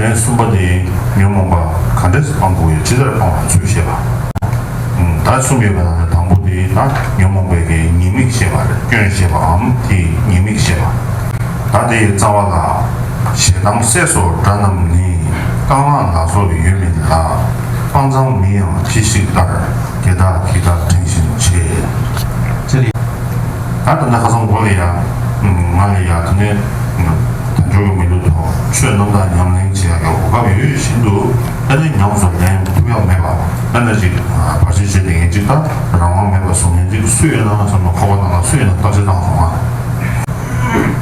ལན་གསུམ་པ་ནི། ཉོན་མོངས་པ་ག་འདྲས་སུ་སྤང་དགོས་ཡོད་ཅི་ལྟར་སྤང་བའི་ཚུལ་བཤད་པ། དག་གསུམ་ཡོད་པའི་ནང་ནས་དང་པོ་དེ་ན་ཉོན་མོངས་པའི་དགེ་ཉེས་དམིགས་བཤད་པ་རེད་སྐྱོན་བཤད་པའམ་དེའི་ཉེས་དམིགས་བཤད་པ། དག་དེའི་རྩ་བ་ལ། ཞེ་སྡང་བསད་སོགས་དགྲ་རྣམས་ནི། རྐང་ལག་ལ་སོགས་ཡོད་མིན་ལ། དཔའ་མཛངས་མིན་ཡང་ཅི་ཞིག་ལྟར། དེ་དག་གིས་དག་དྲན་བཞིན་བྱེད། ད་དུ་ནི་ཁ་སང་གོ་ལ་ཡག་ང་ལ་ཡག་དེ་ནས་ད་འབྱོར་གི་མི་འདུག་དོ་ཆོས་རྣམ་དག་ཉམས་ལེན་བྱེད་ཡག་གི་གོ་སྐབས་ཡོད་བཞིན་དུ་ཨ་ནེ་ཉམས་སུ་ལེན་ཐུབ་ཡག་མེད་པ་ཨ་ནེ་ཅིག་བར་ཆད་བྱས་ཏེ་ངན་ཅིག་ལྟ་རང་དབང་མེད་པ་བཟོ་ངན་ཅིག་སུ་ཡོད་ན་ང་ཚོ་མི་ཁོ་བ་ན་ང་སུ་ཡིན་ན་བརྟག་དཔྱད་བཏང་སོང་ང་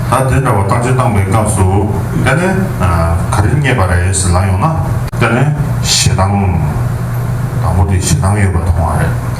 ད་དེ་འདྲ་བ་བརྟག་དཔྱད་བཏང་པའི་སྐབས་སུ་ཨ་ནེ་ག་རེ་རྙེད་པ་རེད་ལང་ཡོང་ན་ཨ་ནེ་ཞེ་སྡང་དང་པོ་དེ་ཞེ་སྡང་ཡོད་པ་མཐོང་བ་རེད།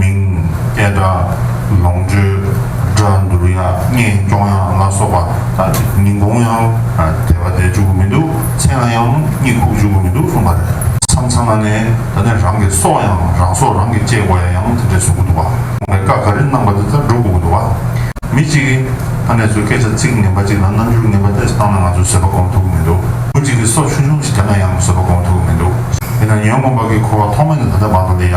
མིང། སྐད་སྒྲ། ལོངས་སྤྱོད། སྒྲ་འདུར་ཡག་སྙན་སྐྱོང་ཡག་ལ་སོགས་པ་དག་གི་ཉིན་གུང་ཡང་དལ་བ་དལ་འཇུག་གི་མི་འདུག་མཚན་ལ་ཡང་གཉིད་ཁུག་འཇུག་གི་མི་འདུག་གསུངས་པ་རེད། མཚམས་མཚམས་ལ་ནས་ད་ནས་རང་གི་སྲོག་ཡང་རང་སྲོག་རང་གིས་བཅད་དགོས་ཡ་ཡང་དེ་འདྲས་བཟོ་གི་འདུག་བ། བའི་བཀའ་ག་རེ་གནང་བ་དེ་ལྟར་འགྲོ་དགོས་ཀྱི་འདུག་བ། མི་གཅིག་གིས་ཕ་ནས་ཚོའི་སྐད་ཆ་ཚིག་ངན་པ་གཅིག་དང་རྣམ་འགྱུར་ངན་པ་ལྟས་སུ་བཏང་ན་ང་ཚོས་བཟོད་པ་སྒོམ་ཐུབ་ཀྱི་མི་འདུག་བུ་གཅིག་གིས་སྲོག་ཆུང་ཆུང་ཞིག་བརྒྱབ་ན་ཡང་བཟོད་པ་སྒོམ་ཐུབ་ཀྱི་མི་འདུག་དེས་ན་ཉོན་མོངས་པ་གིས་འཁོར་བ་ཐོག་མེད་ནས་ད་ལྟ་བར་དུ་ལས་ཡ།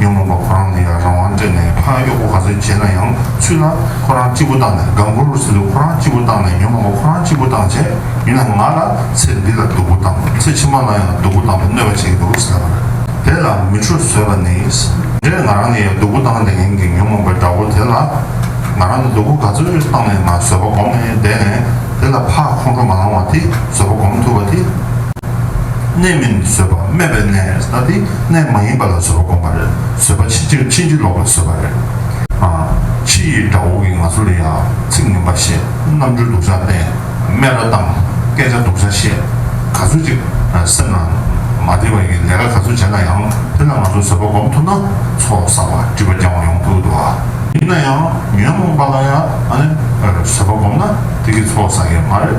ཉོན་མོངས་པ་ཁོ་རང་ལ་ཡང་རང་དབང་སྤྲད་ནས་ཕ་གཡོག་པོ་ག་ཚོད་བྱེད་ན་ཡང་ཚུད་ན་ཁོ་རང་གཅིག་པུ་བཏང་ནས་དགའ་མགུར་ཟིན་དུ་ཁོ་རང་གཅིག་པུ་བཏང་ནས་ཉོན་མོངས་པ་ཁོ་རང་གཅིག་པུ་བཏང་བྱས་ཡིན་ན་ང་ལ་ཚེ་འདི་ལ་སྡུག་པོ་བཏང་ཚེ་ཕྱི་མ་ལ་ཡང་སྡུག་པོ་བཏང་བའི་གནོད་པ་བྱེད་ཀྱི་འདུག་ཟེར་བ་ལ་དེ་ལ་མི་ཁྲོ་ཟོས་པ་ནི་འདྲེས་ང་རང་ལ་ཡང་སྡུག་པོ་བཏང་བྱས་ཡིན་གྱི་ཉོན་མོངས་པའི་དགྲ་བོ་དེ་ལ་ང་རང་ལ་སྡུག་པོ་ག་ཚོད་བཏང་ནས་ང་ཟོས་པ་བསྒོམས་ནས་བསྡད་ནས་དེ་ལ་ཕ་ཁོང་ཁྲོ་མ་ལངས་བ་དེ་ཟོས་པ་བསྒོམས་ཐུབ་པ་དེ། གནས་མིན་བཟོད་པ་སྨད་པའི་གནས་ན་དེ་གནས་མ་ཡིན་པ་ལ་བཟོད་པ་བསྒོམ་པ་རེད་བཟོད་པ་ཕྱིན་ཅི་ཕྱིན་ཅི་ལོག་པའི་བཟོད་པ་རེད། ཕྱི་ཡི་དགྲ་བོ་གིས་ང་ཚོ་ལ་ཡ་ཚིག་ངན་པ་བཤད་རྣམ་འཕྲུལ་སྡུག་ཅག་བསྟན་སྨད་ར་བཏང་སྐད་ཆ་སྡུག་ཅག་བཤད་ག་ཚོད་ཅིག་སེམས་ལ་མ་བདེ་བ་ཡིན་ལས་ཀ་ག་ཚོད་བྱས་ན་ཡང་དེ་ལ་ང་ཚོ་བཟོད་པ་བསྒོམ་ཐུབ་ན་ཚོགས་བསགས་པ་སྒྲིབ་པ་རྐྱང་བ་ཡོང་ཕོད་དུ་བ། ཡིན་ན་ཡང་ཉོན་མོངས་པ་ལ་ཡང་བཟོད་པ་བསྒོམ་ན་དེ་གིས་ཚོགས་བསགས་ཡས་མ་རེད།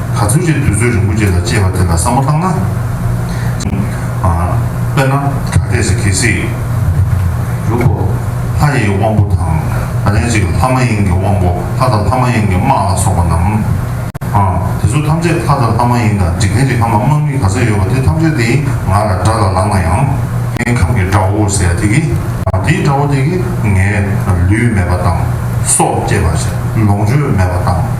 ག་ཚོད་ཅིག་དུས་ཚོད་རིང་པོ་རྗེས་ལ་སྤྱད་པ་དེ་ལ་བསམ་བློ་བཏང་ན། དཔེར་ན་ད་ལྟས་སུ་གལ་སྲིད། ལུག་གོ། ལྷ་ཡི་དབང་པོ་དང། ལན་ཅིག་ལྷ་མ་ཡིན་གྱི་དབང་པོ་ལྷ་དང་ལྷ་མ་ཡིན་གྱི་དམག་ལ་སོགས་པ་རྣམས། དེ་ཚོ་ཐམས་ཅད་ལྷ་དང་ལྷ་མ་ཡིན་དང་འཇིག་རྟེན་གྱི་ཁམས་ལ་དམག་མི་ག་ཚོད་ཡོད་པ་དེ་ཐམས་ཅད་དེའི་ང་ལ་དགྲ་ལ་ལངས་ན་ཡང། ངའི་ཁམས་ཀྱི་དགྲ་བོ་ཟེར་དེ་གི། དེའི་དགྲ་བོ་དེ་གི་ངའི་ལུས་མེད་པ་དང། སྲོག་བཅད་པ་བྱས་ལོངས་སྤྱོད་མེད་པ་དང།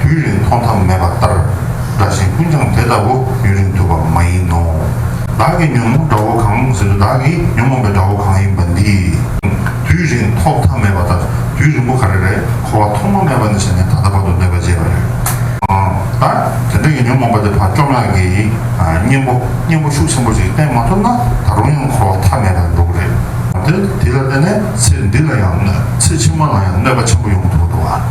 དུས་རིང་མཐོང་ཐབས་མེད་པ་ལྟར་འདྲ་ཞིང་ཀུན་ཀྱང་དེ་ལྟ་བུ་ཡུན་རིང་ཐུབ་པ་མ་ཡིན་ནོ། བདག་གིས་ཉོན་མོངས་དགྲ་བོ་གང་ཟེར་དུས་བདག་གིས་ཉོན་མོངས་པའི་དགྲ་བོ་གང་ཡིན་པ་འདིས། དུས་རིང་མཐོང་ཐབས་མེད་པ་ལྟར་དུས་རིང་པོ་ག་རེ་རེད་འཁོར་བ་ཐོག་མ་མེད་པ་ནས་བྱས་ནས་ད་ལྟ་བར་དུ་གནོད་པ་བྱས་པ་རེད། ད་དེ་འདྲ་ཡི་ཉོན་མོངས་པ་དེ་བག་བཅོམ་ལགས་ཀྱི་གཉེན་པོ་གཉེན་པོ་ཤུགས་ཆེན་པོ་ཞིག་བསྟེན་མ་ཐུབ་ན་ད་རུང་ཡང་འཁོར་བ་ཐ་མལ་པའི་འགྲོ་གི་རེད། དེ་ལ་བརྟེན་ནས་ཚེ་འདི་ལ་ཡང་གནོད་ཚེ་ཕྱི་མ་ལ་ཡང་གནོད་པ་ཆེན་པོ་ཡོང་གི་འདུག་ལ།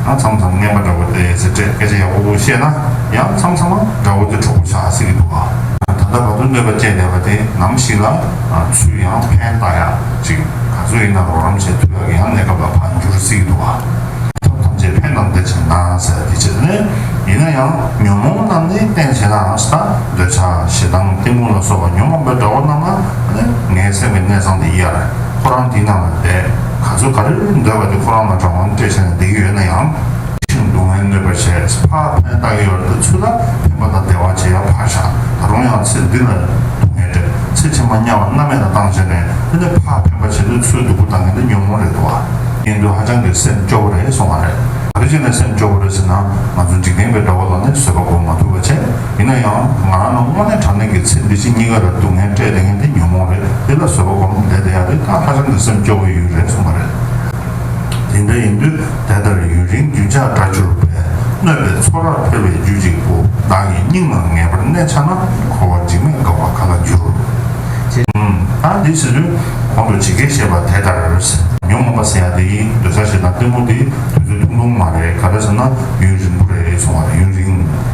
ཡང་མཚམས་མཚམས་རྔན་པ་འདྲ་བོ་དེ་ཟེར་འདྲས་སྐད་ཆ་ཡག་པོ་པོ་བཤད་ན་ཡང་མཚམས་མཚམས་འདྲ་བོ་དེ་འཁྲུག་པོ་ཆགས་སྲིད་ཀྱི་འདུག་ཨ། ད་ལྟ་བར་དུ་གནོད་པ་སྤྱད་བསྡད་པ་དེ་ནམ་ཞིག་ལ་ཚུར་ཡང་ཕན་བཏགས་ཡག་ཅིག་ག་ཚོད་ཡིན་ན་རོགས་རམ་བྱས་དུས་ལ་ཡང་གནས་སྐབས་ལ་བར་འགྱུར་སྲིད་ཀྱི་འདུག་ཨ། ཐབས་ཐམས་ཅད་ཕན་གནང་བསྡད་ཅིག་གནང་ཟེར་བ་དེ་ཆེད་དུ་ནི་ཡིན་ན་ཡང་ཉོན་མོངས་རྣམས་ནི་བསྟེན་བྱེད་ནའང་ས་འདོད་ཆགས་ཞེ་སྡང་གཏི་མུག་ལ་སོགས་པ་ཉོན་མོངས་པའི་དགྲ་བོ་རྣམས་ལ་ནི་ངའི་སེམས་ཀྱི་གནད་གསང་དེ་ཡར་ཁོ་རང་དེའི་ནང་ལ་བསྡད། ག་ཚོད་ག་རེར་འདོད་པ་དེ་ཁོ་རང་ལ་དྲང་བོར་སྤྲད་བྱས་ནས་བསྡད་ཀྱི་ཡོད་ན་ཡང། ཤིང་སྡུག་བསྔལ་གནོད་པར་བྱས། ཕ་ཕན་བཏགས་ཀྱི་ཡོད་རེད་འདོད་ཚུལ་ལ་ཕན་པ་དང་བདེ་བ་ཇི་ཡང་ཕར་བཞག་ད་རུང་ཡང་ཚེ་འདི་ལ་སྡུག་བསྔལ་སྤྲད་ཚེ་ཕྱི་མ་དམྱལ་བ་མནའ་མེད་ལ་བཏང་བྱས་ནས་དེ་ནི་ཕ་ཕན་པ་བྱེད་འདོད་ཚུལ་སྡུག་པོ་བཏང་གི་འདུག་ཉོན་མོངས་རེད་འདུག་བ། ཉན་དུས་ཧ་ཅང་གི་སེམས་སྐྱོ་བོ་རེད་སོང་བ་རེད། ག་རེ་བྱས་ནས་སེམས་སྐྱོ་བོ་རེད་ཟེར་ན་ང་ཚོ་འཇིག་རྟེན་པའི་དགྲ་བོ་ལ་ནི་བཟོད་པ་སྒོམ་མ་ཐུབ་པ་བྱས། ཡིན་ན་ཡང་ང་རང་ནི་དངོས་གནས་དྲང་གནས་ཀྱི་ཚེ་འདི་ཕྱི་གཉིས་ཀ་རེད་སྡུག་བསྔལ་སྤྲད་དེ་ངས་འདི་ཉོན་མོངས་རེད་འདི་ལ་བཟོད་པ་སྒོམ་བསྡད་དེ་ཡང་རིགས་ཐང་ཧ་ཅང་གི་སེམས་སྐྱོ་བོའི་ཡུལ་རེད་གསུངས་པ་རེད། དེ་འདྲ་ཡིན་དུས་དེ་ལྟར་ཡུན་རིང་རྒྱུན་ཆགས་འདྲ་གྱུར་པས་གནོད་པའི་ཚོར་ར་འཕེལ་བའི་རྒྱུ་གཅིག་པུ་བདག་གི་སྙིང་ནང་ངེས་པར་གནས་ཆགས་ན་འཁོར་བ་འཇིགས་མེད་འགག་པ་ག་ལ་འགྱུར། ཡང་འདི་ཟེར་དུས་གོང་དུ་ཇི་སྐད་བཤད་པ་དེ་ལྟར། ཉོན་མོངས་པ་ཟེར་ཡག་འདི་ཡིན་འདོད་ས་ཞིག་དང་སྟོན་མོ་འདི་དུས་ཚོད་ཐུང་ཐུང་མ་རེད་ག་རེ་ཟེར་ན་ཡུན་རིང་པོ་རེད་གསུངས་བ་རེད་ཡུན་རིང།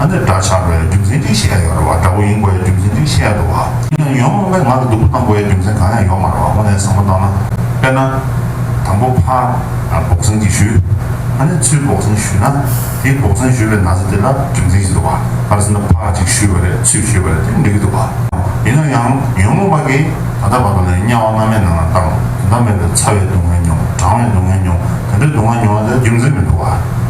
ཨ་འདི་འདྲ་ཆགས་པའི་རྒྱུ་མཚན་ཅི་ཞིག་ཡང་ཡོད་རེད་བ་འདྲ་བོ་ཡིན་དགོས་ཡའི་རྒྱུ་མཚན་ཅི་ཞིག་ཡང་འདུག་བ། ཡིན་ཡང་ཡོང་མེད་ངང་གིས་སྡུག་པོ་གཏང་དགོས་ཡའི་རྒྱུ་མཚན་གང་ཡང་ཡོད་མ་རེད་བ་དངོས་གནས་བཟང་པོ་གཏང་ན། དཔེར་ན། དང་པོ་ཕ། འབོག་ཟན་གྱིས་ཞུས། ཨ་ནི་ཚུལ་འབོག་ཟན་ཞུས་ན། དེའི་འབོག་ཟན་ཞུས་པའི་ན་ཚ་དེ་ལ་རྒྱུ་མཚན་ཞིག་འདུག་བ། ཕར་ཟེར་ན་ཕ་ཅིག་ཞུས་བ་རེད་ཚུལ་ཞུས་བ་རེད་དེ་འགྲིག་གི་འདུག་བ། ཡིན་ན་ཡང་ཡོང་མེད་པ་གིས་ད་ལྟ་བར་དུ་ལས་དམྱལ་བ་སྔ་མའི་ནང་ན་བཏང་དེ་འདྲ་མེད་པའི་ཚ་བའི་སྡུག་བསྔལ་མྱོང་གྲང་བའི་སྡུག་བསྔལ་མྱོང་དེ་འདྲའི་སྡུག་བསྔལ་མྱོང་བ་དེ་རྒྱུ་མཚན་མི་འདུག་བ།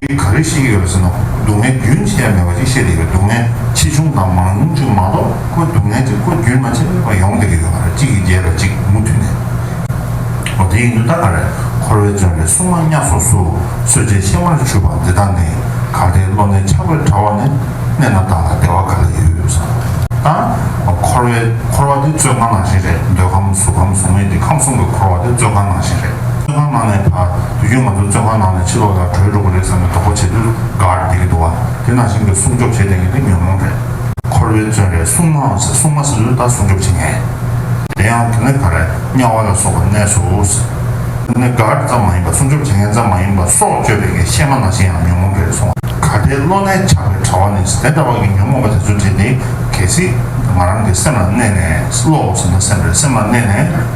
འདི་ག་རེ་ཞིག་ཡོད་པ་ཟིན་ནོ་སྡུག་བསྔལ་རྒྱུན་ཅི་ཡང་མེད་པ་ཞིག་བཤད་དེ་ཡོད་སྡུག་བསྔལ་ཆེ་ཆུང་དང་མང་ཉུང་བཅུ་མ་གཏོགས་ཁོ་སྡུག་བསྔལ་གྱི་སྐུ་རྒྱུན་མ་ཆད་པར་ཡོང་བསྡད་ཀྱི་ཡོད་པར་གཅིག་གིས་རྒྱས་པར་གཅིག་མུ་མཐུད་ནས་ཨོ་དེ་ཡིན་དུས་ད་ག་རེ་འཁོར་བའི་བརྩོན་པའི་སྲུང་མ་གཉའ་སོགས་སུ་གསོད་བྱེད་ཤེ་མར་ཆུད་པ་འདི་དག་ནི་ག་རེའི་བློ་ནས་ཆགས་པའི་དྲ་བ་ནས་གནས་ན་བདག་ལ་བདེ་བ་ག་ལ་ཡོད་བསམ་ན་འཁོར་བའི་འཁོར་བ་དེ་བཙོད་ཁང་ནང་བཞིན་རེད་འདོད་ཁམས་གཟུགས་ཁམས་གཟུགས་མེད་ཀྱི་ཁམས་གསུམ་གྱི་འཁོར་བ་དེ་བཙོད་ཁང་ནང་བཞིན་རེད་བཙོད་ཁང་ནང་ནས་བར། དུས་རྒྱུན་ང་ཚོ་བཙོན་ཁང་ནང་ནས་ཕྱི་ལོགས་ལ་བྲོས་འགྲོ་གི་རེད་བསམ་པའི་དོགས་པ་ཇེ་སྡུག་ཏུ་དགའ་རུ་འགྲོ་གི་འདུག་བ་དེ་ནང་བཞིན་གྱི་སྲུང་སྐྱོབ་བྱེད་བསྡད་མཁན་དེ་ཉོན་མོངས་རེད། འཁོར་བའི་བཙོན་རས་སྲུང་མའང་ཟེར་སྲུང་མ་ཟེར་དུས་ལྟར་སྲུང་སྐྱོབ་བྱེད་མཁན། དེ་ཡང་དེ་ནི་ག་རེ་དམྱལ་བ་ལ་སོགས་པའི་གནས་སོ། དེ་ནི་ག་རེ་ཙམ་མ་ཡིན་པ་སྲུང་སྐྱོབ་བྱེད་མཁན་ཙམ་མ་ཡིན་པ་སྲོག་གཅོད་པའི་ངའི་གཤེད་མ་ནང་བཞིན་ཡང་ཉོན་མོངས་རེད་སོང་བ། ག་དེའི་བློ་རྣལ་ཆགས་པའི་དྲ་བ་ནས་དེ་འདྲ་བ་གི་ཉོན་མོངས་པ་དེ་ཚོ་བྲིས་ཏེ་གལ་སྲིད་ང་རང་གི་སེམས་ལ་གནས་ནས་བློའོ་ཟེར་ན་སེམས་རེད་སེམས་ལ་གནས་ནས།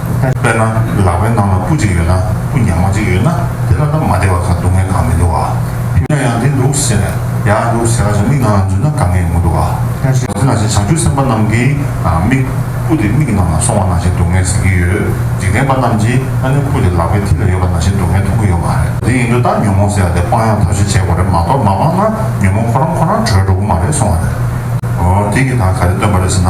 དཔེར་ན་ལག་པའི་ནང་ལ་སྤུ་གཅིག་ཡོད་ན་སྤུ་ཉག་མ་གཅིག་ཡོད་ན་དེ་ལ་ནམ་མ་བདེ་བ་གང་སྡུག་བསྔལ་གང་མི་འདུག་བ། ཕི་ན་ཡང་དེ་འདུག་ཟེར་ནས་ཡག་འདུག་ཟེར་བ་ཞིག་མིག་ནང་ལ་འཛུལ་ན་གང་ངེས་མི་འདུག་བ། དེ་ནས་བྱང་ཆུབ་སེམས་དཔའ་རྣམས་ཀྱིས་མིག། སྤུ་དེ་མིག་གི་ནང་ལ་སོང་བ་ན་བཞིན་སྡུག་བསྔལ་ཟིན་གྱི་ཡོད། འཇིག་རྟེན་པ་རྣམས་ཀྱིས་ཨ་ནི་སྤུ་དེ་ལག་པའི་མཐིལ་ལ་ཡོད་པ་ན་བཞིན་སྡུག་བསྔལ་མཐོང་གི་ཡོད་མ་རེད། དེ་ཡིན་དུས་ད་ཉོན་མོངས་ཟེར་བ་དེ་སྤང་ཡང་ཐབས་ཤེས་བྱེད་དགོས་རེད་མ་གཏོགས་མ་སྤངས་ན་ཉོན་མོངས་ཁོ་རང་ཁོ་རང་བྲོས་འགྲོ་གི་མ་རེད་སོང་བ་རེད། དེ་གི་ད་ག་རེ་སྟོན་པ་རེད་ཟེར་ན།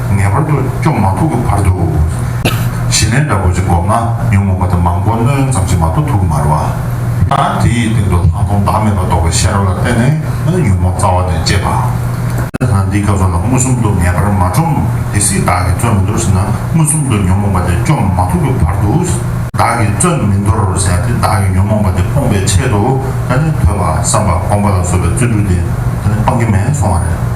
ངེས་པར་དུ་སྐྱོང་མ་ཐུབ་ཀྱི་བར་དུ། བྱིན་ལེན་འདྲ་པོ་ཅིག་བསྒོམས་ན་ཉོན་མོངས་པ་དེ་མང་པོ་སྣོད་ཡོན་ཙམ་ཞིག་མ་གཏོགས་ཐུག་གི་མ་རེད་བ། ད་དེ་ཡི་སྟེང་དུ་ལྷག་མཐོང་བདག་མེད་པར་རྟོགས་པའི་ཤེས་རབ་ལ་བརྟེན་ནས་ཉོན་མོངས་རྩ་བ་ནས་བཅད་པ། ད་འདི་སྐབས་སུ་ལ་མངོན་སུམ་དུ་ངེས་པར་མ་བཅོམ་དེ་སྲིད་བདག་གིས་བརྩོན་མི་འདོར་ཟེར་ན་མངོན་སུམ་དུ་ཉོན་མོངས་པ་དེ་སྐྱོང་མ་ཐུབ་ཀྱི་བར་དུ། བདག་གིས་བརྩོན་མི་འདོར་ཟེར་ན་དེ་བདག་གིས་ཉོན་མོངས་པ་དེ་སྤོང་པའི་ཆེད་དུ། ཐོས་པ་བསམ་པ་སྒོམ་པ་ལ་སོགས་པའི་བརྩོན་འགྲུས་དེ། སྤང་གི་མེད་སོང་བ་རེད།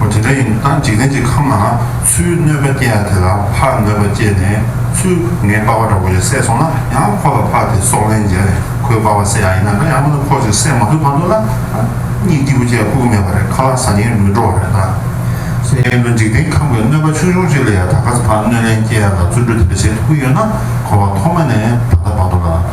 འོ་དེ་འདྲ་ཡིན་ན་འཇིག་རྟེན་གྱི་ཁམས་ལའང་ཚུལ་གནོད་པ་སྐྱེ་ཡ་དེ་ལ་ཕ་གནོད་པ་སྐྱེས་ནས་ཚུལ་ངན་སྤ་བ་འདྲ་བོ་ཡང་བསད་སོང་ན་ཡང་ཁོ་ལ་ཕ་དེ་སྲོག་ལན་འཇལ་ནས་ཁོའི་སྤ་བ་བསད་ཡ་ཡིན་ན་འདྲ་ཡང་མིན་ན་ཁོ་ཅིག་བསད་མ་ཐུབ་བར་དུ་ན་གཉིད་སྐྱིད་པོ་བྱས་ཁུག་གི་མེད་པ་རེད་ཁ་ལག་ཟ་ཉེན་མི་འགྲོ་བ་རེད་ད། སེམས་ཅན་དུ་འཇིག་རྟེན་ཁམས་ཀྱི་གནོད་པ་ཆུང་ཆུང་ཅིག་ལ་ཡང་ད་ག་ཟེ་ཕ་གནོད་ལན་སྐྱེ་ཡ་ལ་བརྩོན་འགྲུས་དེ་འདྲ་བྱེད་ཐུབ་ཀྱི་ཡོད་ན་ཁོ་བ་ཐོག་མ་ནས་ད་ལྟ་བར་དུ་ལ།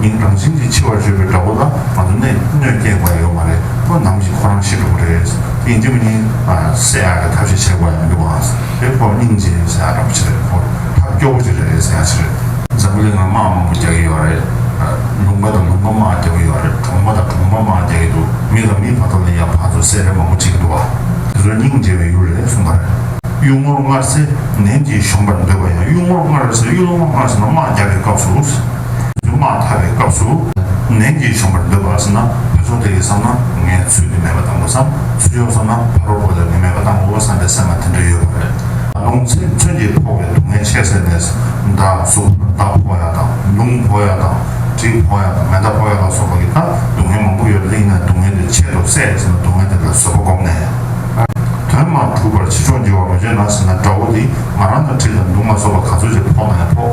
མིང་རང་བྱིན་གྱིས་འཆི་བར་བརྗོད་པའི་དགྲ་བོ་ལ་ང་ཚོ་ནས་གནོད་སྐྱེལ་དགོས་ཡོད་མ་རེད་ཁོ་ནམ་ཞིག་ཁོ་རང་ཤི་འགྲོ་གི་རེད་ཡིན་གྱི་མི་ཡིན་ཟེར་ཡག་གི་ཐབས་ཤིག་བྱེད་དགོས་ཡོད་འདུག་ཨང་དེ་ཁོ་སྙིང་རྗེ་ཡོད་ཟེར་ཡག་གྲ་པོ་ཆེ་རེད་ཁོ་ཐབས་སྐྱོ་པོ་ཅིག་རེད་ཟེར་ཡག་ཆེ་རེད། འཛམ་བུ་གླིང་ལ་དམག་མང་པོ་རྒྱག་གི་ཡོད་རེད། ལུང་པ་དང་ལུང་པ་དམག་རྒྱག་གི་ཡོད་རེད་གྲོང་པ་དང་གྲོང་པ་དམག་རྒྱག་གི་འདུག་མི་དང་མིའི་བར་དོ་ལ་ཡང་བག་ཚོ་སེ་རེ་མང་པོ་བྱེད་ཀྱི་འདུག་ཨ་དེ་ཚོ་སྙིང་རྗེ་བའི་ཡུལ་རེད་གསུངས་པ་རེད། གཡུལ་ངོར་མངར་ཟས་ནན་གྱིས་གཞོམ་པར་འདོད་པ་ཡང་གཡུལ་ངོར་མངར་ཟས་གཡུལ་ངོར་མངར་ཟས་རྣམས་དམག་རྒྱག་གི་སྐབས་སུ། དུ་མ་ཐར་བའི་སྐབས་སུ་ནན་གྱིས་བྱོན་པར་འདོད་པ་ཟེར་ན་བུ་ཆུང་དེ་ཡིས་བསམ་ན་ངས་ཚུལ་དེ་མེད་པ་བཏང་གོ་བསམ་ཚུལ་ཆུང་བསམ་ན་ཕ་རོལ་པོ་ལས་དེ་མེད་པ་བཏང་གོ་བསམ་པའི་སེམས་ལ་དེ་འདྲ་ཡོད་པ་རེད། ལུང་ཚིག་མཚོན་གྱིས་ཕོག་པའི་སྡུག་བསྔལ་ཆེ་ཟེར་ནས་མདའ་གཟུགས་མདའ་ཕོག་ཡ་དང་ལུང་ཕོག་ཡ་དང་གྲི་ཕོག་ཡ་དང་མེ་མདའ་ཕོག་ཡ་ལ་སོགས་པ་ཀྱི་དང་སྡུག་བསྔལ་མང་པོ་ཡོད་གླེང་ནས་སྡུག་བསྔལ་དེ་ཆེད་དུ་བསད་ཟེར་ན་སྡུག་བསྔལ་དེ་ལ་བཟོད་པ་སྒོམ་ནས་དོན་མ་གྲུབ་པར་ཕྱི་ཕྱོགས་འགྱུར་བ་མི་བྱེད་ན་ཟེར་ན་དགྲ་བོ་དེས་ང་རང་དང་ཁྲིད་དང་མདུང་ལ་སོགས་པ་ག་ཚོད་ཅིག་ཕོག་ན་ཡང་ཕོག།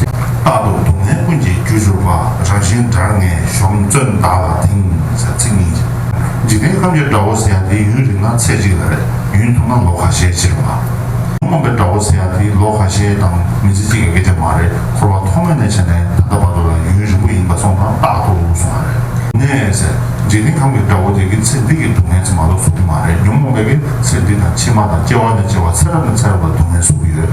རྟག་ཏུ་སྡུག་བསྔལ་ཀུན་གྱི་རྒྱུ་བྱུར་བ་རང་བཞིན་དགྲར་ངན་གཞོམ་བརྩོན་བདག་ལ་དེང་སང་ཚིག་གཉིས་ཀྱིས། འཇིག་རྟེན་ཁམས་ཀྱི་དགྲ་བོ་ཟེར་ཡ་དེ་ཡུན་རིང་ན་ཚེ་གཅིག་ལ་རེད་ཡུན་ཐུང་ན་ལོ་ཁ་ཤས་ཕྱིར་བ། རྨོངས་པའི་དགྲ་བོ་ཟེར་ཡ་དེ་ལོ་ཁ་ཤས་དང་མི་ཚེ་གཅིག་གི་གི་དེ་མ་རེད་འཁོར་བ་ཐོག་མེད་ནས་བྱས་ནས་ད་ལྟ་བར་དུ་ལ་ཡུན་རིང་པོ་ཡིན་པ་སོང་ཙང་རྟག་ཏུ་སོང་བ་རེད། ནས་ཟེར། འཇིག་རྟེན་ཁམས་ཀྱི་དགྲ་བོ་དེ་གི་ཚེ་འདི་གི་སྡུག་བསྔལ་ཚེ་མ་ལོ་སུབ་གི་མ་རེད་ཉོན་མོངས་པའི་གི་ཚེ་འདི་དང་ཕྱི་མ་དང་སྐྱེ་བ་ནས་སྐྱེ་བ་ཚེ་རབས་ནས་ཚེ་རབས་ལ་སྡུག་བསྔལ་སུབ་གི་ཡོད།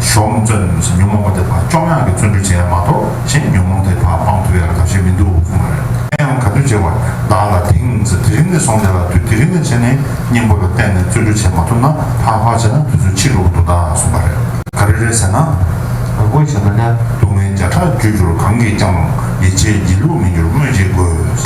ཞོགས་རླུང་བཙོན་ནས་ལོས་ས་ཉོན་མོངས་པ་དེ་དག་བཅོམ་དབྱངས་ཀྱིས་བརྩོན་འགྲུས་བྱས་ཡ་མ་གཏོགས་གཞན་གྱི་ཉོན་མོངས་དེ་དག་སྤང་ཐུབ་ཡ་ག་བྱས་མི་འདུག་གསུངས་པ་རེད། ཨེ་ཡང་ག་དུས་བྱས་བར་བདག་ལ་དེང་ས་དེ་རིང་ནས་བཟུང་སྟེ་ལ་དུས་དེ་རིང་ནས་བྱས་ནས་སྙིང་པོ་ལ་བརྟེན་ནས་བརྩོན་འགྲུས་བྱས་མ་ཐུབ་ན་ཕག་ཕག་བྱས་ན་དུས་ཚོད་ཕྱིས་ལོག་གི་འདུག་ད་གསུངས་པ་རེད། ག་རེ་རེད་ཟེར་ན། དབུས་ཆེན་པོ་ལྷའི་སྡུག་བསྔལ་བརྒྱ་ཕྲག་བརྒྱུད་འགྱུར་གང་གིས་ཀྱང་ཡིད་ཆེས་སྒྱིད་ལུག་མི་འགྱུར་སྨོས་ཅི་དགོས།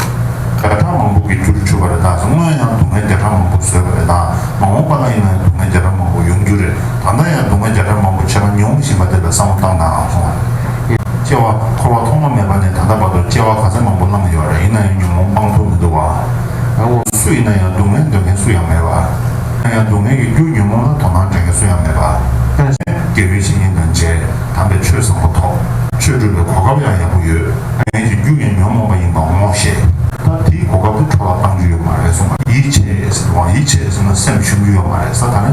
བརྒྱ་ཕྲག་མང་པོ་གི་རྒྱུར་གྱུར་པ་རེད་ད་སྔོན་ཡང་སྡུག་བསྔལ་བརྒྱ་ཕྲག་མང་པོ་བཟོས་པ་རེད་ད་མ་འོངས་པ་ལ་ཡིན་ན་སྡུག་བསྔལ་བརྒྱ་ཕྲག་མང་པོ་ཡོང་རྒྱུ་རེད། ད་ལྟ་ཡང་སྡུག་བསྔལ་བརྒྱ་ཕྲག་མང་པོ་བྱས་པ་མྱོང་མི་ཤེས་པ་དེ་ལ་བསམ་བློ་བཏང་ནའང་སོང་བ་རེད། སྐྱེ་བ་འཁོར་བ་ཐོག་མ་མེད་པ་ནས་ད་ལྟ་བར་དུ་སྐྱེ་བ་ག་ཚད་མང་པོ་བླངས་ཡོད་རེད་ཡིན་ན་ཡང་ཉོན་མོངས་སྤང་ཐུབ་མི་འདུག་བ། ཨ་ཨོ་སུ་ཡིན་ན་ཡང་སྡུག་བསྔལ་འདོད་མཁན་སུ་ཡང་མེད་བ། ཡིན་ན་ཡང་སྡུག་བསྔལ་གྱི་རྒྱུ་ཉོན་མོངས་ལ་དོ་སྣང་བྱེད་མཁན་སུ་ཡང་མེད་བ། ཁྱོད་ཀྱིས་དགེ་བའི་བཤེས་གཉེན་དང་མཇལ་དམ་པའི་ཆོས་བཟང་པོ་ཐོབ། ཆོས་སྒྲུབ་པའི་གོ་སྐབས་ཡང་ཡག་པོ་ཡོད། སྡུག་བསྔལ་གྱི་རྒྱུ་ཡང་ཉོན་མོངས་པ་ཡིན་པ་ངོ་ཤེས། ད་དེའི་གོ་སྐབས་དེ་འཕྲོག་ལ་བཏང་རྒྱུ་ཡོད་མ་རེད་གསུངས་པ། ཡིད་ཆེས་ཟེར་བའང་ཡིད་ཆེས་ཟེར་ན་སེམས་ཞུམ་རྒྱུ་ཡོད་མ་རེད་ས་ད་ནི།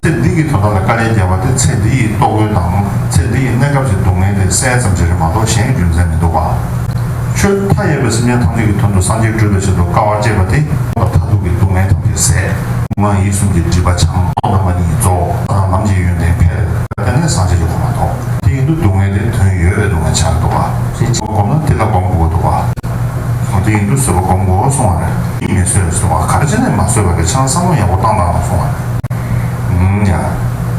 ཚེ་འདི་གི་དོ་ཟླ་ལ་དཀའ་ལས་བརྒྱབ་པ་དེ་ཚེ་འདི་ཡི་ལྟོ་གོས་དང་ཚེ་འདི་ཡི་གནས་སྐབས་ཀྱི་སྡུག་བསྔལ་ལས་སེལ་ཙམ་བྱེད་རིན་མ་གཏོགས་གཞན་གྱི་རྒྱུ་མཚན་མི་འདུག་པཱ། ཆོས་མཐའ་ཡས་པའི་སེམས་ཅན་ཐམས་ཅད་ཀྱི་དོན་དུ་སངས་རྒྱས་སྤྲུལ་པའི་ཆེད་དུ་དཀའ་བ་སྤྱད་པ་དེ། མཐའ་ཐུག་གི་སྡུག་བསྔལ་ཐམས་ཅད་ཟད། ངག་ཡིད་གསུམ་གྱི་སྒྲིབ་པ་བྱང། རྟོག་དང་མ་ནི་རྫོགས། ས་དང་ལམ་གྱི་ཡོན་ཏན་འཕེལ། དེ་ནས་སངས་རྒྱས་ཀྱི་གོ་མ་ཐོབ། དེ་ཡིན་དུ་སྡུག་བསྔལ་དེ་དོན་ཡོད་པའི་སྡུག་བསྔལ་བྱ་རེ་དོགས་པ། བསྒོམ་ན་དེ་ལ་བསྒོམ་དགོས་དོགས་པ། འོ་དེ་ཡིན་དུ་བཟོད་པ་བསྒོམ་དགོས་གསུང་བ་རེད། མི་བཟོད་གསུང་བ་ག་རེ་བྱས་ནས་མ་བཟོད་པ་རེད་ཆང་བསམ་བློ་ཡག་པོ་བཏང་དང་གསུང་བ།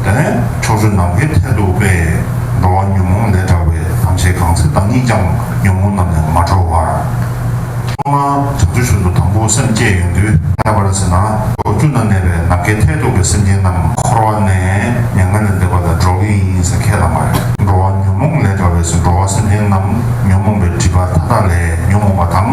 དེ་ནས་ཕྱོགས་བཅུ་ནམ་མཁའི་མཐས་གཏུགས་པས། འགྲོ་བ་ཉོན་མོངས་ལས་དག་པའི་ཐམས་ཅད་གང་ཚེ་བདག་ཉིད་ཀྱང་ཉོན་མོངས་རྣམས་ལས་མ་གྲོལ་བར། ཐོག་མར་བྱང་ཆུབ་ཤིན་ཏུ་དང་པོ་སེམས་བསྐྱེད་ཡོན་དུ་གནས་པར་བྱེད་ན། ཕྱོགས་བཅུ་ན་གནས་པའི་ནམ་མཁའི་མཐས་གཏུགས་པའི་སེམས་ཅན་རྣམས་འཁོར་བ་ནས་མྱ་ངན་ལས་འདས་པ་ལ་འགྲོ་གི་ཡིན་ཟེར་ཁས་བླངས་པ་རེད། འགྲོ་བ་ཉོན་མོངས་ལས་དག་པས་སུ་འགྲོ་བ་སེམས་ཅན་རྣམས་ཉོན་མོངས་པའི་སྒྲིབ་པ་མཐའ་དག་ལས་ཉོན་མོངས་པ་དང།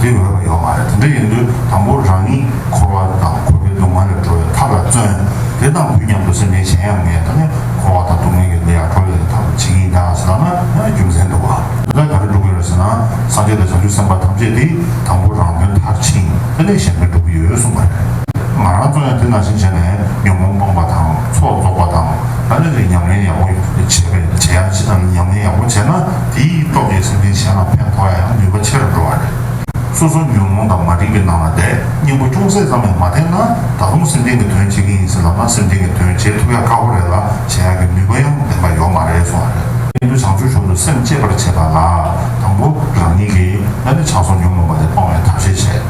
དེ་འོས་པ་ཡོད་མ་རེད་དེ་འདྲ་ཡིན་དུས་དང་པོ་རང་ཉིད་འཁོར་བ་དང་འཁོར་བའི་སྡུག་བསྔལ་ལས་གྲོལ་བའི་ཐབས་ལ་བརྩོན། དེ་དང་དུས་མཉམ་དུ་སེམས་ཅན་གཞན་ཡང་ངས་ད་ནི་འཁོར་བ་དང་སྡུག་བསྔལ་གྱི་གནས་ཡང་གྲོལ་ཡོད་དེ་ཐབས་ལ་བྱེད་ཀྱིན་ཀྱང་ཟེར་ན་ཡང་རྒྱུ་མཚན་འདུག་ག། དེ་ལྟར་ག་རེ་འགྲུབ་ཀྱི་རེད་ཟེར་ན་སངས་རྒྱས་དང་བྱང་ཆུབ་སེམས་དཔའ་ཐམས་ཅད་དེ་དང་པོ་རང་དོན་མཐར་ཕྱིན་དེ་ལས་གཞན་པའི་འགྲུབ་ཀྱི་ཡོད་གསུངས་པ་རེད། ང་རང་ཚོ་ཡང་དེ་ནང་བཞིན་བྱས་ནས་ཉོན་མོངས་སྤངས་པ་དང་ཚོགས་རྫོགས་པ་དང་ལ་ལས་རེ་ཉམས་ལེན་ཡག་པོ་བྱས་པས་བྱས་ཡག་ཅི་དང་ཉམས་ལེན་ཡག་པོ་བྱས་ན། དེ་ཡིས་རྟོག་གེའི་སེམས་ཅན་གཞན་ལ་ཕན་ཐོགས་ཡང་ནུས་པ་ཆེ་རུ་འགྲོ་བ་རེད། སོ་སོ་ཉོན་མོངས་དང་མ་རིག་པའི་ནང་ལ་བསྡད་སྙིང་པོ་ཅུང་ཟད་ཙམ་ཡང་མ་བསྟེན་ན་ད་དུང་སེམས་ཅན་གྱི་དོན་བྱེད་ཀྱིན་ཡིན་ཟེར་ལབ་ན་སེམས་ཅན་གྱི་དོན་བྱེད་ཐུབ་ཡ་ཁག་པོ་རེད་ལ་བྱེད་ཡ་གི་ནུས་པ་ཡང་ལྡན་པ་ཡོག་མ་རེད་སོང་བ་རེད། ཀྱེ་ནུས་བྱང་ཆུབ་སེམས་དང་སེམས་བསྐྱེད་པར་བྱེད་པ་ལ་དང་པོ་རང་ཉིད་ཀྱིས་ང་ནི་ཆགས་སོགས་ཉོན་མོངས་པ་དེ་སྤང་བའི་ཐབས་ཤེས་བྱེད།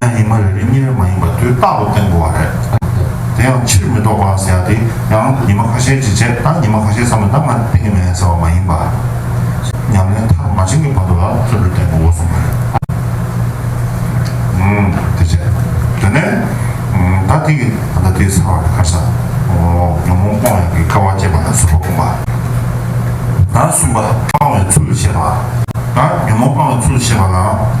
ཡང་ཉི་མ་རེ་རེ་གཉིས་རེ་མ་ཡིན་པར་དུས་རྟག་ཏུ་བརྟན་དགོས་བ་རེད། དེ་ཡང་ཕྱིར་མི་ལྡོག་པ་ཟེར་ཡག་དེ་ཡང་ཉི་མ་ཁ་ཤས་ཀྱིས་བྱས་ད་ཉི་མ་ཁ་ཤས་ཚང་མས་ད་ང་བརྟན་གི་མེད་ཟེར་བ་མ་ཡིན་པར། ཉམས་ལེན་མཐར་མ་ཕྱིན་གྱི་བར་དུ་ལ་བརྩོན་འགྲུས་བརྟན་དགོས་བ་གསུངས་པ་རེད། དེ་བྱས། དེ་ནས་ད་དེ་གི་ད་ལྟ་དེའི་ཚར་བ་རེད་ཁ་ས་ཉོན་མོངས་སྤོང་ཡག་གི་སྐལ་བ་བསྐྱེད་པ་ལ་ཟུར་བ་སྤུངས་པ། ད་གསུམ་པ་སྤང་བའི་ཚུལ་ཞེས་པ། ད་ཉོན་མོངས་སྤང་བའི་ཚུལ་ཞེས་པ་ལའང།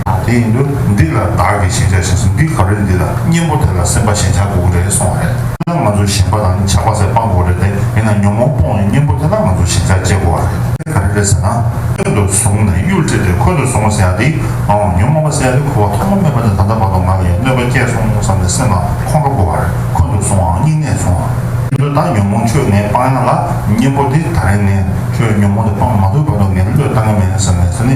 དེ་ཡིན་དུས་འདི་ལ་བདག་གིས་ཤེས་བྱ་ཞེས་སོ་འདི་ག་རེ་འདི་ལ་གཉེན་པོ་དེ་ལ་སེམས་པ་ཞེན་ཆགས་དགོས་ཀྱི་རེད་གསུང་བ་རེད། ན་ང་ཚོ་ཞེན་པ་དང་ཆགས་པ་ཟད་སྤང་དགོས་རེད་དེ་མིན་ན་ཉོན་མོངས་སྤོང་བའི་གཉེན་པོ་དེ་ལ་ང་ཚོ་ཞེན་ཆགས་སྐྱེ་དགོས་བ་རེད། དེ་ག་རེ་རེད་ཟེར་ན་སྟོད་དུ་བཟུང་ནས་གཡུལ་ཁྲིད་དེ་འཁོན་དུ་བཟུང་བ་ཟེར་ཡག་དེ་འང་ཉོན་མོངས་པ་ཟེར་ཡག་དེ་ཁུ་བ་ཐོག་མ་མེད་པ་ནས་ད་ལྟ་བར་དུ་ང་ལ་ཡང་གནོད་པ་སྐྱེས་སོང་བསམ་ནས་སེམས་ལ་ཁོང་ཁྲོ་དགོས་བ་རེད་འཁོན་དུ་བཟུང་བའང་སྙིང་ནད་བཟུང་བ། དེ་ཚོ་དང་ཉོན་མོངས་ཁྱོད་ངས་སྤང་ཡག་ལ་གཉེན་པོ་དེ་ད་རེས་ངས་ཁྱོད་ཉོན་མོངས་དེ་སྤང་མ་ཐུབ་བར་དུ་ངས་བློས་བཏང་གི་མེད་ཟེར་ནས་ཟེར་ནི།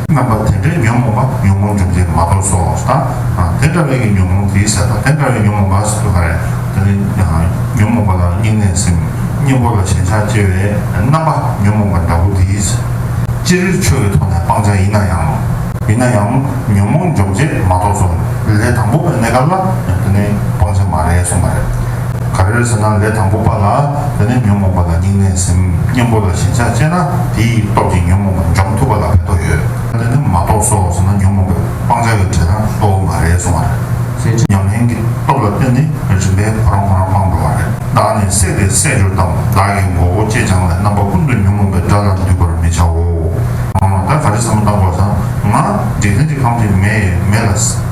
རྣམ་པ་དེ་འདྲའི་ཉོན་མོངས་པ་ཉོན་མོངས་འཇུག་ཅེས་མ་གཏོགས་སོ་དང། དེ་འདྲ་བའི་ཀྱི་ཉོན་མོངས་ཀྱིས་བསད་པ་དེ་འདྲ་བའི་ཉོན་མོངས་པ་སྲིད་དུ་ག་རེ། དེ་ནི་ཉོན་མོངས་པ་ལ་སྙིང་ནས་སེམས། གཉེན་པོ་ལ་ཞེན་ཆགས་སྐྱེ་བའི་རྣམ་པ་ཉོན་མོངས་པ་འདྲ་བོ་དེས། ཅི་རིགས་ཆོས་ཀྱི་ཐོག་ནས་སྤང་བྱ་ཡིན་ན་ཡང། ཡིན་ན་ཡང་ཉོན་མོངས་འཇོག་ཅེས་མ་གཏོགས་སོ། ལས་དང་པོ་པའི་གནས་སྐབས་ལ་དེ་ནི་སྤང་བྱ་མ་རེད་གསུངས་པ་རེད། ག་རེར་ཟེར་ན་ལས་དང་པོ་པ་ལ་དེ་ནས་ཉོན་མོངས་པ་ལ་སྙིང་ནད་སེམས་གཉེན་པོ་ལ་ཞེན་ཆགས་སྐྱེས་ན་དེའི་སྟོབས་ཀྱིས་ཉོན་མོངས་པ་འཇོམས་ཐུབ་པ་ལ་ཕན་ཐོགས་ཡོད། དེ་ནི་མ་གཏོགས་སོ་ཟེར་ན་ཉོན་མོངས་པའི་སྤང་བྱ་ཡི་བྲེལ་སྟངས་གཙོ་བོ་མ་རེད་སོང་བ་རེད། གསལ་བྱེད་ཉམས་ལེན་གྱི་སྟོབས་ལ་བརྟེན་ནས་རིམ་པས་ཁོ་རང་ཁོ་རང་སྤངས་འགྲོ་བ་རེད། བདག་ནི་སྲེད་པའི་སྲེད་སྦྱོར་དང་བདག་གི་མགོ་བོ་ཅེ་སྤྱང་བའི་རྣམ་པ་ཀུན་ཏུ་ཉོན་མོངས་པའི་དགྲ་ལ་འདུས་པར་མི་བྱའོ། ད་ག་རེ་བསམ་བློ་བཏང་དགོས་ཟེར་ན། འཇིག་རྟེན་གྱི་ཁམས་འདི་མེ་ཡི་མེ་ལ།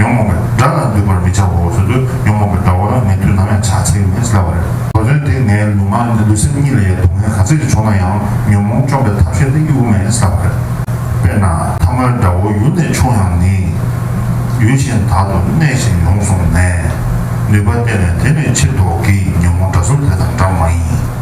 ཡོང་མོང་གི་སྒྲ་ལ་འདུས་པར་མི་བྱའོ་སོ་སོའི་ཡོང་མོང་གི་སྒྲ་བོ་ལ་ངེས་དུས་ནམ་ཡང་ཕྱག་འཚལ་མི་བྱ་བ་རེད། གོ་དོན་དེ་ངའི་ལུས་ངག་ནི་ལུས་སེམས་གཉིས་ལ་ཡང་སྡུག་བསྔལ་ག་ཚད་ཀྱི་བྱུང་ན་ཡང་ཉོན་མོངས་བཅོམ་པའི་ཐབས་ཤེས་ནི་དབྱུག་མེད་བྱ་བ་རེད། དཔེར་ན་ཐ་མལ་སྒྲ་བོ་ཡུལ་ནས་ཕྱུང་ཡང་ནི། ཡུལ་གཞན་དག་ཏུ་གནས་ཤིང་ཡོང་གསུངས་ནས། ནུས་པ་བསྟན་ནས་དེ་ནས་ཕྱིར་ལྡོག་གིས་ཉོན་མོངས་སྒྲ་གསུམ་དེ་དང་འདྲ་མ་ཡིན།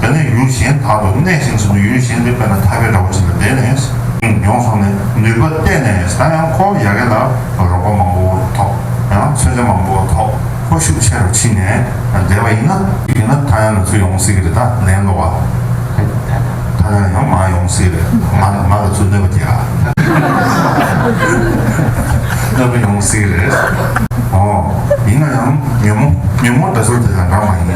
དེ་ནས་ཡུལ་གཞན་དག་ཏུ་གནས་ཤིང་ཟིན་ཏོ་ཡུལ་གཞན་དེ་དཔེར་ན་ཐ་གའི་དགྲ་བོ་ཅིག་ལ་དེད་ནས། ཡོང་སོང་ནས་ནུས་པ་བསྟེན་ནས་ད་ཡང་ཁོ་ཡ་གེ་ལ་རོགས་པ་མང་པོ་ཐོབ། ཡང་མཚོན་ཆ་མང་པོ་ཐོབ་ཁོ་ཤུགས་ཆེ་རུ་ཕྱིན་ནས་བསྡད་པ་ཡིན་ན། ཡིན་ན་ད་ཡང་ང་ཚོ་ཡོང་སྲིད་ཀྱི་རེད་ད་ལན་བསློག་པ། ད་ལན་ཡང་མ་ཡོང་སྲིད་རེད་ང་ལ་ང་ལ་ཚུར་གནོད་པ་རྒྱག། གནོད་པ་ཡོང་སྲིད་རེད། ཨོ་ཡིན་ན་ཡང་ཉོན་མོ་ཉོན་མོ་འདྲ་ཚོར་དེ་དང་འདྲ་མ་ཡིན།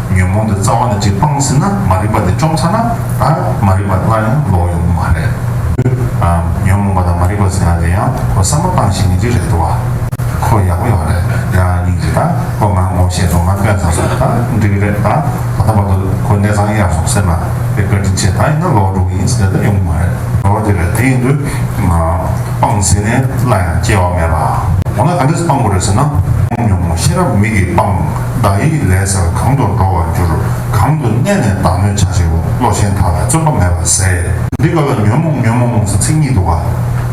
ཉོན་མོངས་དེ་རྩ་བ་ནས་ཅིག་སྤངས་ཟིན་ན་མ་རིག་པ་དེ་བཅོམ་ཚར་ན་ད་མ་རིག་པ་སླར་ཡང་ལོག་ཡོང་གི་མ་རེད། ཉོན་མོངས་པ་དང་མ་རིག་པ་ཟིན་ན་དེ་ཡང་ཁོ་བསམ་བློ་བཏང་ཞིག་ནི་ཅིག་རེད་འདུག་བ། ཁོ་ཡག་པོ་ཡོང་རེད་ཡ་སྙིང་རྗེ་ད་ཁོ་ང་ངོ་ཤེས་སོང་ང་དཔོན་བཟང་སོང་ད་འགྲིག་གི་རེད་ད་ད་ལྟ་བར་དུ་ཁོ་གནས་ཚང་གཡར་སོང་ཟེར་ན་དེ་བཀའ་དྲིན་ཆེ་ད་ཡིན་ན་ལོག་འགྲོ་གི་ཡིན་ཟེར་ན་ཡོང་གི་མ་རེད། ལོག་འགྲོ་རེད་དེ་ཡིན་དུས་སྤངས་ཟིན་ནས་སླར་ཡང་སྐྱེ་བ་མེད་པ། འོ་ན་ག་འདྲས་སུ་སྤངས་དགོས་རེད་ཟེར་ན། ཉོན་མོངས་ཤེས་རབ་མིག་གིས་སྤངས། བདག་ཡིད་ལས་སར་གང་དུ་འགྲོ་བར་འགྱུར། གང་དུ་གནས་ནས་བདག་མོས་བྱ་བྱེད་བློ་ཆེན་དག་ལ་བརྩོན་པ་མེད་པར་ཟད། འདི་ག་ལ་ཉོན་མོངས་ཉོན་མོངས་སུ་ཚིག་གཉིས་འདུ་བ།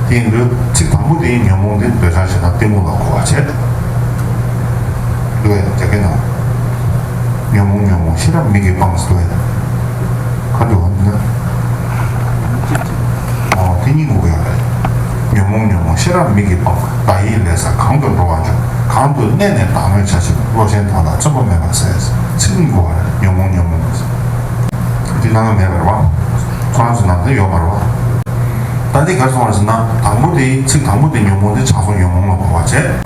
དེ་འདུལ་ཚིག་དང་པོ་དེའི་ཉོན་མོངས་དེ་འདོད་ཆགས་ཆེ་ན་གཏི་མུག་ལ་གོ་བར་བྱེད། འདུ་བས་རྒྱ་སྐད་ནོ། ཉོན་མོངས་ཉོན་མོངས་ཤེས་རབ་མིག་གིས་སྤངས་སུ་འདུ་བས། ཁ་འདུ་བ་འདི་ན། དེ་གཉིས་འགུགས་ཡོང་རེད། ཉོན་མོངས་ཉོན་མོངས་ཤེས་རབ་མིག་གིས་སྤངས། བདག་ཡིད་ལས་སར་གང་དུ་འགྲོ་བ་འཇུག། གང་དུ་གནས་ནས་བདག་མོས་བྱ་ཞིང་བློ་ཆེན་དོན་དང་བརྩོན་པ་མེད་པར་ཟད། ཚིག་གཉིས་འགུགས་རེད་ཉོན་མོངས་ཉོན་མོངས། འདི་སྣང་བ་མེད་པར་བ། ཁོ་རང་ཚོ་ནང་དོན་ཡོད་པར་བ། ད་འདི་གར་སོང་བ་ཟིན་ན་དང་པོ་དེ་ཚིག་དང་པོ་དེ་ཉོན་མོངས་དེ་ཆགས་སོང་ཉོན་མོངས་ལ་འགོག་བར་བྱེད།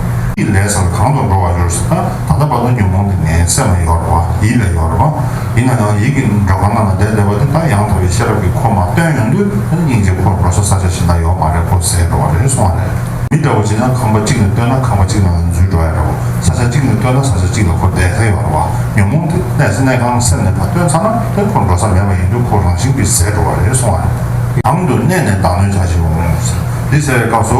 ཀྱི་ལས་སམ་གང་དུ་འགྲོ་བར་འགྱུར་ཟེར་ན་ད་ལྟ་བར་དུ་ཉོན་མོངས་ཀྱི་ནད་སེམས་ལ་ཡོད་རེད་བ་ཡིད་ལ་ཡོད་རེད་བ། ཡིན་ན་ཡང་ཡིད་ཀྱི་འགྲོ་གང་ན་ན་བསྡད་བསྡད་བ་དེ་ད་ཡང་དག་པའི་ཤེས་རབ་ཀྱི་འཁོར་མ་སྟོན་ཡོང་དུས་ད་ནི་སྙིང་རྗེ་འཁོར་འགྲོ་ས་ས་ཆ་ཞིག་ན་ཡོད་མ་རེད་བོ་ཟེར་བ་རེད་གསུང་བ་རེད། མི་འདྲ་བོ་བྱེད་ན་ཁང་པ་གཅིག་ནས་བཏོན་ན་ཁང་པ་གཅིག་ནང་ལ་འཛུལ་འགྲོ་ཡ་རེད་བ་ས་ཆ་གཅིག་ནས་བཏོན་ན་ས་ཆ་གཅིག་ལ་འཁོར་བསྡད་ཁ་ཡོད་རེད་བ་ཉོན་མོངས་དེ་གནས་ས་གནས་ཁང་སེམས་ནས་བ་སྟོན་ཚར་ན་དེ་འཁོར་འགྲོ་ས་མེད་པ་ཡིན་དུས་འཁོར་རང་བཞིན་གྱིས་ཟད་འགྲོ་བ་རེད་གསུང་བ་རེད། གང་དུ་གནས་ནས་བདག་གནོད་བྱ་ཞིག་འོང་ངོ་ཟེར། འདི་བྱ་བའི་སྐབས་སུ་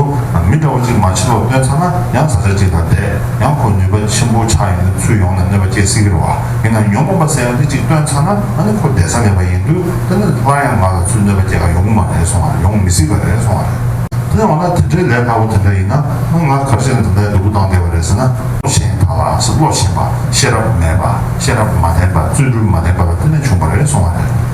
མི་འདྲ་བ་གཅིག་མ་ཕྱི་ལོག་སྟོན་ཚར་ན་ཡང་བཟའ་བཅའ་གཅིག་དང་འདས་ཡང་ཁོ་ནུས་པ་ཆེན་པོ་ཆགས་ཡོང་དུས་ཚུར་ཡོང་ནས་གནོད་པ་སྐྱེལ་སྲིད་ཀྱི་རེད་བ། ཡིན་ནའང་ཉོན་མོངས་པ་ཟེར་ཡང་འདི་གཅིག་སྟོན་ཚར་ན་ང་ནི་ཁོ་འདས་ས་མེད་པ་ཡིན་དུས་ད་ནི་སླར་ཡང་ང་ལ་ཚུར་གནོད་པ་སྐྱེལ་ག་ཡོང་གི་མ་རེད་སོང་བ་རེད་ཡོང་མི་སྲིད་པ་རེད་སོང་བ་རེད། དེ་ནས་འོ་ན་དེ་འདྲའི་ལས་སླ་བོ་དེ་འདྲ་ཡིན་ན་ང་ག་བྱེད་ནས་དེ་འདྲའི་སྡུག་པོ་བཏང་བསྡད་པ་རེད་ཟེར་ན། བློ་ཞན་དག་ལའང་སྲིད་བློ་ཞན་པ་ཤེས་རབ་མེད་པ་ཤེས་རབ་མ་ལྡན་པ་བརྩོན་འགྲུས་མ་ལྡན་པ་ལ་དེ་ནས་བྱུང་བ་རེད་སོང་བ་རེད།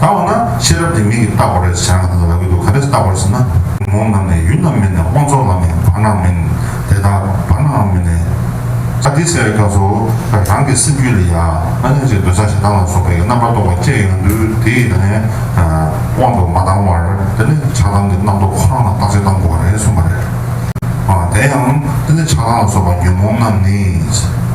ད་འོ་ན་ཤེས་རབ་དེ་མིག་གིས་བལྟ་བར་རེ་བྱ་ན་ལག་གིས་དུ་ག་རེ་བལྟ་བར་བྱེད་ན། མོ་རྣམས་ནི་ཡུལ་རྣམས་མིན་ནས་དབང་ཚོགས་ལ་ནི་བར་སྣང་མིན། དེ་དག་བར་སྣང་མིན་ནས། ད་འདི་བྱ་བའི་སྐབས་སུ། རང་གི་སེམས་རྒྱུད་ལ་ཡང་ཨ་ནི་ཅིག་འདོད་ཆགས་ཞེ་སྡང་ལ་སོགས་པའི་རྣམ་པར་རྟོག་པ་སྐྱེ་ཡོང་དུས་དེ་ཡི་ནི། དབང་དུ་མ་བཏང་བར་དེ་ནི་ཆགས་སྡང་གི་རྣམ་རྟོག་ཁོ་རང་ལ་བརྟག་དཔྱད་གཏང་དགོས་པ་རེད་གསུངས་པ་རེད། དེ་ཡང། དེ་ནི་ཆགས་སྡང་ལ་སོགས་པ་ཉོན་མོངས་རྣམས་ནི།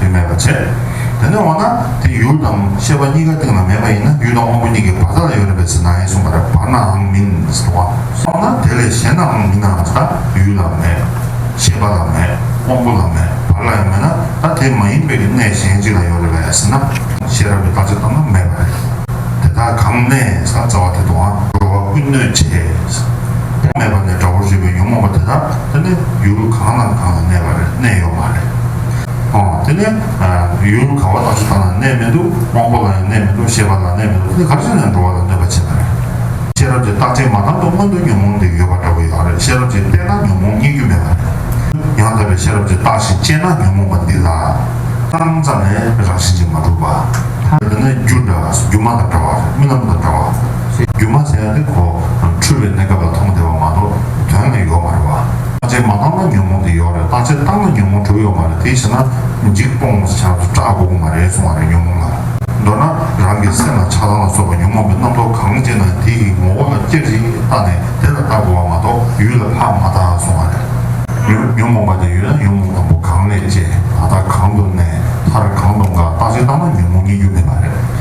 དེ་མེད་པར་བྱས། དེ་ནས་འོ་ན་དེ་ཡུལ་དང་ཤེས་པ་གཉིས་ཀ་སྟེང་ན་མེད་པ་ཡིན་ན་ཡུལ་དང་དངོས་པོ་གཉིས་ཀའི་བར་དག་ལ་ཡོད་རན་པའི་ཚེ་ན་ཡིན་གསུངས་པ་ལྟར་བར་ནའང་མིན་གསུངས་བ། གསུངས་ན་དེ་ལས་གཞན་ནའང་མིན་ནའང་ད་ཡུལ་ལ་མེད། ཤེས་པ་ལ་མེད། དབང་པོ་ལ་མེད་བར་ལ་ཡང་མེད་ན་ད་དེ་མ་ཡིན་པའི་གནས་གཞན་ཅིག་ལ་ཡོད་རེད་བས་ཟེར་ན། ཤེས་རབ་ཀྱི་བརྟག་བྱ་ལྟར་ན་མེད་པ་རེད། དེ་དག་གང་གནས་ས་རྩ་བ་དེ་དུའང་འགྲོ་བ་ཀུན་གནོད་བྱེད། དེ་མེད་པ་ནས་དགྲ་བོར་གྱུར་པའི་ཉོན་མོངས་པ་དེ་དག་དེ་ནི་ཡུལ་གང་དང་གང་ལ་གནས་པ་རེད་གནས་ཡོད་མ་རེད། དེ་ནས་ཡུལ་གང་བ་དག་ཞིག་དང་ལ་གནས་མི་འདུག་དབང་པོ་ལ་ཡང་གནས་མི་འདུག་ཤེས་པ་ལ་གནས་མི་འདུག་འདི་ག་ཚོད་ནས་འགྲོ་བ་ལ་གནོད་པ་བྱེད་པ་རེད། ཤེས་རབ་ཀྱི་རྟགས་ཅན་མ་དམ་དུ་མངོན་འདོད་ཉོན་མོངས་འདི་ཡོད་པ་འདྲ་བོ་ཡང་རེད་ཤེས་རབ་ཀྱིས་བལྟས་ན་ཉོན་མོངས་རྙེད་རྒྱུ་མེད་པ་རེད། ཡང་དག་པའི་ཤེས་རབ་ཀྱི་རྟགས་བཞིན་དཔྱད་ན་ཉོན་མོངས་པ་འདི་ལ། སྣང་ཙམ་ལས་རང་བཞིན་གྱིས་མ་གྲུབ་པ། འདི་ནི་རྒྱུ་འདྲ་སྒྱུ་མ་དང་འདྲ་བ་རེད་རྨི་ལམ་དང་འདྲ་བ། སྒྱུ་མ་ཟེར་ཡ་དེ་གོ། འཁྲུལ་བའི་གནས་སྐབས་ལ་མཐོང་བདེ་བ་མ་གཏོགས་དོན་ལ་ཡོད་མ་རེད་བ། བརྟག་དཔྱད་མ་བཏང་ན་ཉོན་མོངས་དེ་ཡོག་རེད་བརྟག་དཔྱད་བཏང་ན་ཉོན་མོངས་གྲུབ་ཡོག་མ་རེད་དེ་བྱས་ན་འཇིག་སྤོང་ངོ་ས་ཆ་སུ་སྐྲག་དགོ་གི་མ་རེད་གསུང་བ་རེད་ཉོན་མོངས་ལ་མདོར་ན་རང་གི་སེམས་ལ་ཆགས་སྡང་ལ་སོགས་པ་ཉོན་མོངས་པའི་རྣམ་རྟོག་གང་སྐྱེས་ན་དེ་ཡི་ངོ་བོ་ལ་སྐྱབས་ཤིག་བརྟག་ནས་དེ་ལ་བརྟག་དགོ་བ་མ་གཏོགས་ཡུལ་ལ་ཕར་མ་བརྟག་གསུང་བ་རེད། ཉོན་མོངས་པ་དེ་ཡོད་ན་ཉོན་མོངས་དང་པོ་གང་ལས་སྐྱེས་ད་ལྟ་གང་དུ་གནས་མཐར་གང་དུ་འགག་བརྟག་དཔྱད་བཏང་ན་ཉོན་མོངས་རྙེད་རྒྱུ་མེད་པ་རེད།